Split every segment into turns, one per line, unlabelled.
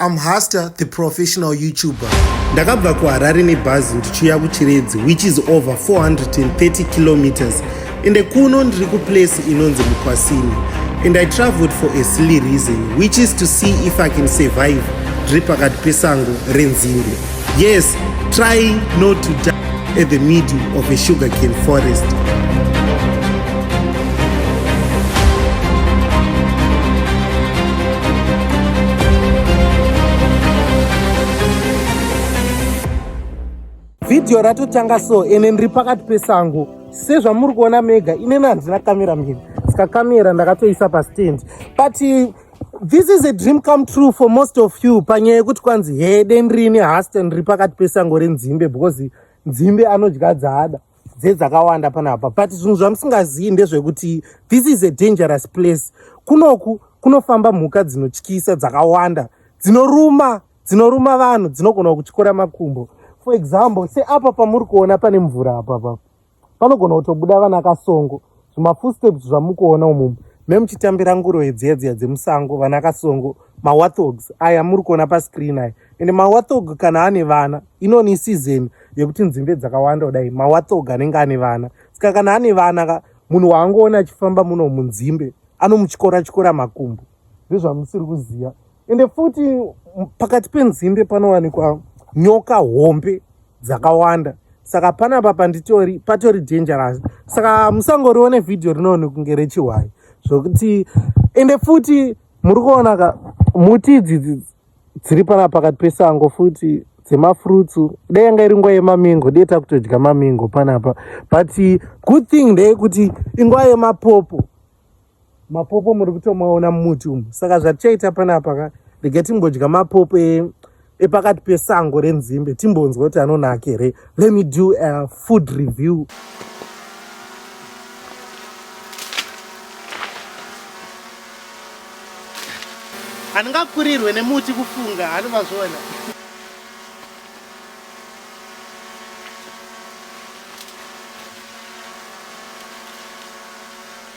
I'm Hasta, the professional YouTuber. Ndakabva kuHarare nebhazi ndichiuya kuChiredzi which is over 430 kilometers ende kuno ndiri kuplace inonzi Mukwasini and I traveled for a silly reason which is to see if I can survive ndiri pakati pesango renzimbe. Yes, try not to die at the middle of a sugarcane forest.
Video ratotanga so ene ndiri pakati pesango sezvamuri kuona mega inene handina kamera mhiri saka kamera ndakatoisa pastand but This is a dream come true for most of you panyaya yekuti kwanzi he dendri ine hasten riri pakati pesango renzimbe because nzimbe anodya dzaada dzedzakawanda panapa but zvinhu zvamusingazivi ndezvekuti this is a dangerous place kunoku kunofamba mhuka dzinotyisa dzakawanda dzinoruma dzinoruma vanhu dzinogona kutyora makumbo for example seapa pamuri kuona pane mvura apapapa panogona kutobuda vana kasongo zvimafootsteps zvamukuona umumu me muchitambira nguroyi dziya dziya dzemusango vana kasongo mawathogs aya muri kuona pascreen aya ende mawathog kana ane vana inoni isizeni yekuti nzimbe dzakawanda kudai mawathog anenge ane vana saka kana ane vana ka munhu waangoona achifamba muno munzimbe anomutyora tyora makumbo ndezvamusiri kuziva ende futi pakati penzimbe panowanikwa nyoka hombe dzakawanda saka panapa panditori patori dangerous saka musangorione vhidhiyo rinoone kunge rechihwayi zvokuti ende futi muri kuona ka muti idzidzi dziri pana pakati pesango futi dzemafrutsu dai yanga iri nguva yemamingo dai takutodya mamingo panapa but good thing ndeyekuti inguva yemapopo mapopo muri kutomaona mumuti umu saka zvatichaita panapa ka rega timbodya mapopo e, epakati pesango renzimbe timbonzwa kuti anonaka here let me do a food review handingakurirwe nemuti kufunga handi mazviona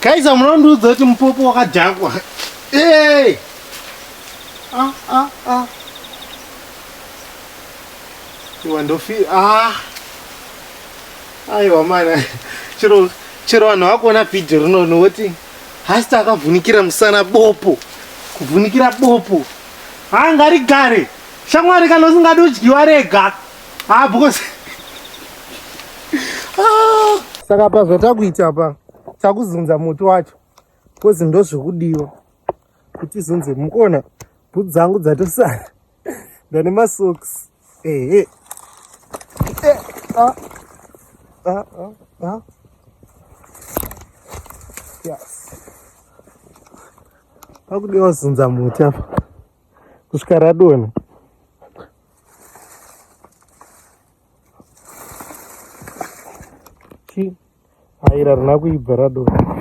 Kaiza munondiudza kuti mupopo wakadhakwa. Hey! Ah ah ah. Iwa ndofi ah. Aiwa mana. Chiro chiro vanhu vakuona video rinono woti hasta akavhunikira musana bopo. Kuvhunikira bopo. Ah ngari gare. Shamwari kana usingadi udyiwa rega. Ah because Ah. Saka apa zvatakuita apa. takuzunza muti wacho kozi ndozvekudiwa kuti izunze mukuona bhutsu dzangu dzatosara ndane masocks ehe eh, eh, ah, ah, ah, ah. yes pakudiwa zunza muti apa kusvika radona Chi aira rina kuibva radonha.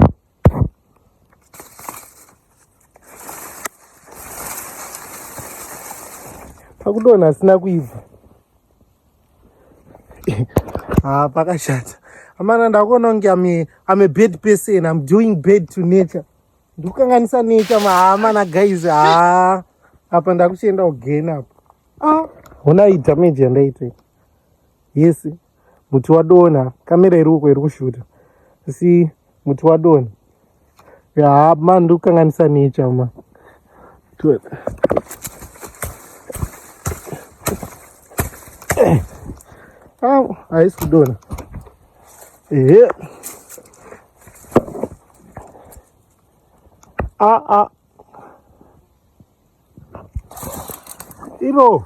Pakudonha asina kuibva. Ah, pakashata. Amana ndakuona kunge I'm I'm a bad person. I'm doing bad to nature. Ndikukanganisa nature mahama na guys. Ah, apa ndakuchienda again apa. ah. honai damage yandaita yes muti wadona kamera iri uko iri kushuta asi muti wadona ya ma ndikukanganisa nature ma au haisi kudona ehe a a Iro.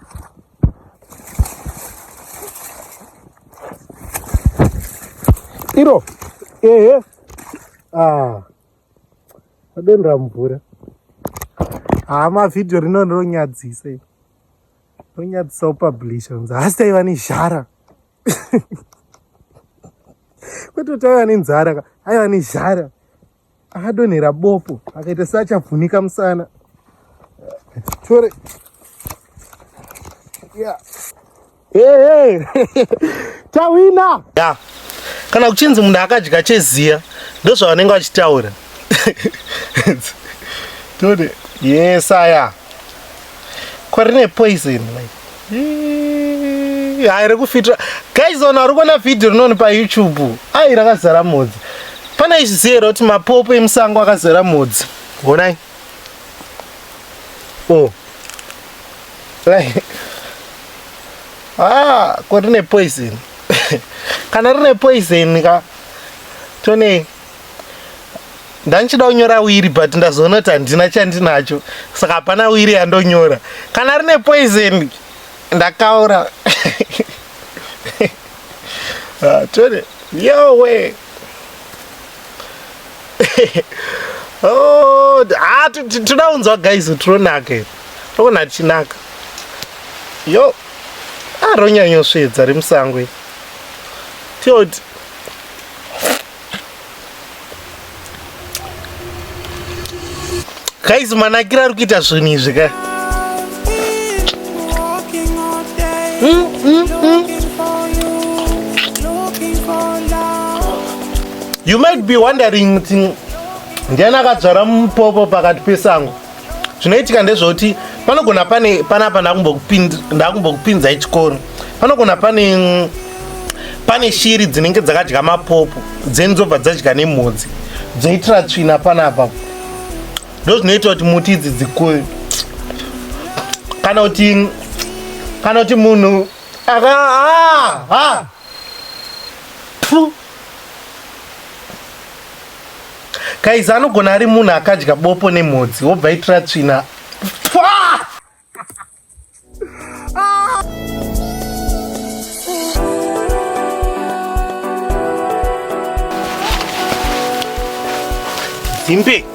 Iro. Ehe. Ah. Adendra mvura. Ah, ma video rino rinonyadzisa. Rinonyadzisa upublisher. Asi taiva nezhara. Kwete taiva nenzara. Aiva nezhara. akadonhera bopo akaita seachavhunika musana tore yeah. hey, hey. tawina yeah. kana kuchinzi munhu akadya cheziya ndozvavanenge vachitaura tore yes aya kwarine poison like Hai rekufitira guys ona uri kuona video rinoni pa YouTube. Ai rakazara mhodzi. Pana izvi zero kuti mapopo emusango akazara mhodzi. Honai. Oh. Lai. Ah, ko rine poison. Kana rine poison ka tone ndandichida kunyora wiri but ndazoona kuti handina chandinacho saka hapana wiri yandonyora kana rine poison ndakaura ah, tore yowe oh, ah, toda kunzwa guys tironake toona tichinaka yo aronyanyosvedza ah, remusango tioti guys manakira ari kuita zvinhu izvi ka mm, mm, mm. you might be wondering kuti ndiani akadzvara mupopo pakati pesango zvinoitika ndezvekuti panogona pane panapa ndakumbokupinzai chikoro panogona pane mm, pane shiri dzinenge dzakadya mapopo dzeni dzobva dzadya nemhodzi dzoitira tsvina panapa ndo zvinoita kuti muti idzi dzikure kana kuti kana kuti munhu aka ah, ah. Kaiza anogona ari munhu akadya bopo nemhodzi wobva itira tsvina. Zimbe.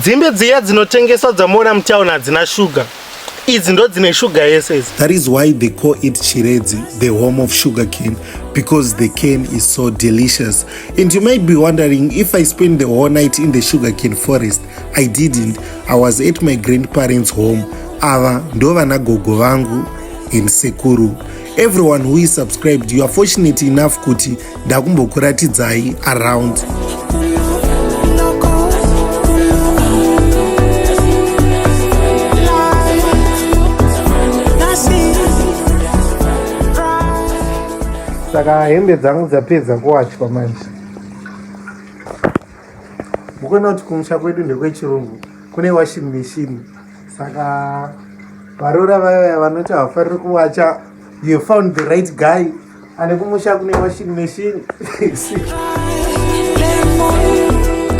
dzimbe dziya dzinotengeswa dzamuona mutown hadzina shuga idzi ndo dzine shuga yese idzi that is why they call
it chiredzi the home of sugar cane because the cane is so delicious and you might be wondering if i spend the whole night in the sugar cane forest i didn't i was at my grandparents home ava ndo vana gogo vangu and sekuru everyone who is subscribed you are fortunate enough kuti ndakumbokuratidzai around
saka hembe dzangu dzapedza kuwachwa manje mukuona kuti kumusha kwedu ndekwechirungu kune washing machine saka varora vaya vanoti havafariri kuwacha you found the right guy ane kumusha kune washing machine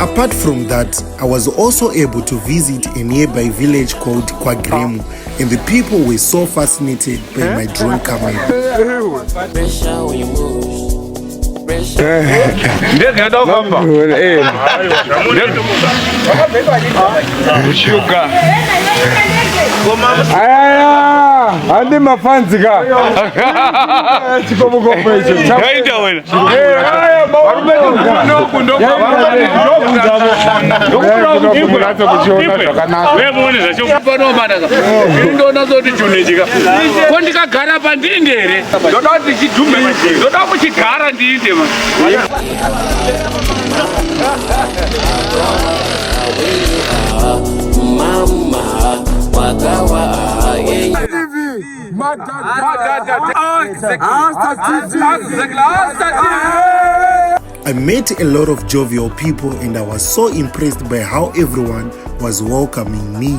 Apart from that, I was also able to visit a nearby village called Kwagremu, and the people were so fascinated by my drone camera. ndege yada kufamba
shuga ayaya handi mafanzi ka chikomukopo icho yaita wena ndonazoti chunechika ko ndikagara pandindere ndoda kuti ndichidhumbe ndoda kuchigara ndiinde
I met a lot of jovial people and I was so impressed by how everyone was welcoming me.